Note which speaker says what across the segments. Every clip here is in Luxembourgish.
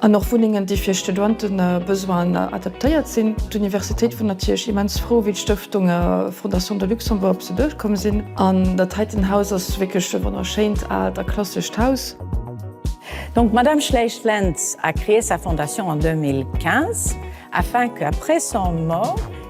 Speaker 1: An och Wunnengen, déi fir Studentebesoine adaptéiert sinn. D'Universitéit wor natierlech immens frou, wéi d'Stëftung Fondation de Luxembourg op se duerch komm sinn. An dat heiten Haus ass wierklech e wonnerschéint aalt a klassescht Haus. Donc
Speaker 2: Madame Schleich-Lentz a créé sa fondation en 2015 afin que après son mort,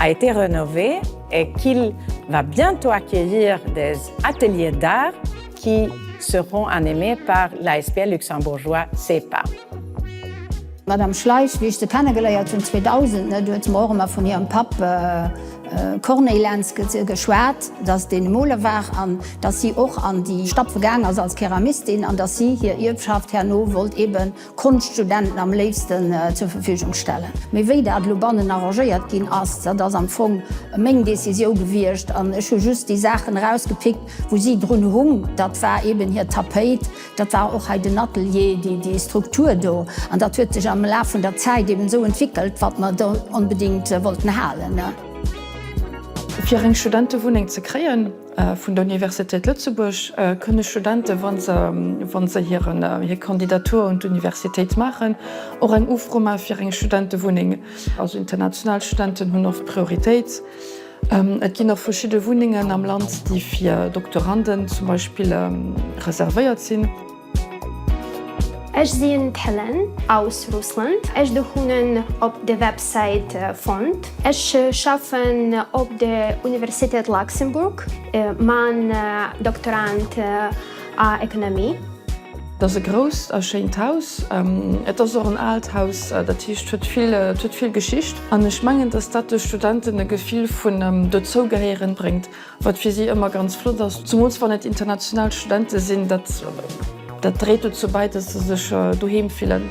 Speaker 2: a été rénové et qu'il va bientôt accueillir des ateliers d'art qui seront animés par l'ASBL luxembourgeois CEPA. D'Madame
Speaker 3: Schleich, wéi ech se kennegeléiert hunn 2000, net, huet se mer och ëmmer vun hirem Papp Corneille Lentz geschwat, datt deen e Moler war an datt si och an déi Stappe gaang ass als Keramistin an datt si hir Ierfschaft herno wollt eeben Konschtstudenten am léifsten zur Verfügung stellen. Mee wéi dat elo bannen arrangéiert ginn ass, dat ass am Fong meng Décision gewiescht an ech hu just déi Saachen erausgepickt, wou si drun hung. Dat war eeben hir Tapéit, dat war och hei den Atelier, déi, déi Struktur do. An dat huet sech am Laf vun der Zäit eeben esou entwickelt, wat mer do onbedéngt wollten halen.
Speaker 1: Fir eng Studentewunneng ze kréien. Vun der Universitéit Lëtzebuerg kënne Studente, wa se hir Kandidatur un d'Universitéit maachen, och eng Ufro maache fir eng Studentewunneng. Also international Studenten hunn oft Prioritéit. Et ginn och verschidde Wunnengen am Land, déi fir Doktoranden zum Beispill reservéiert sinn. Ech
Speaker 4: sinn d'Helen aus Russland. Ech de hunnen op de Websäit fonnt. Ech schaffen op de Universitéit Luxembourg, man Doktorand a Ekonomie. Dat ass e
Speaker 1: grousst a schéint Haus. Et ass och en aalt Haus, dat heescht huet vill et huet vill Geschicht an ech mengen, datt dat de Studenten e Gefill vun Dozougehéieren bréngt. Wat fir si ëmmer ganz flott ass, zemools wann et international Studente sinn, dat dat dréit dozou bäi, dass se sech doheem fillen.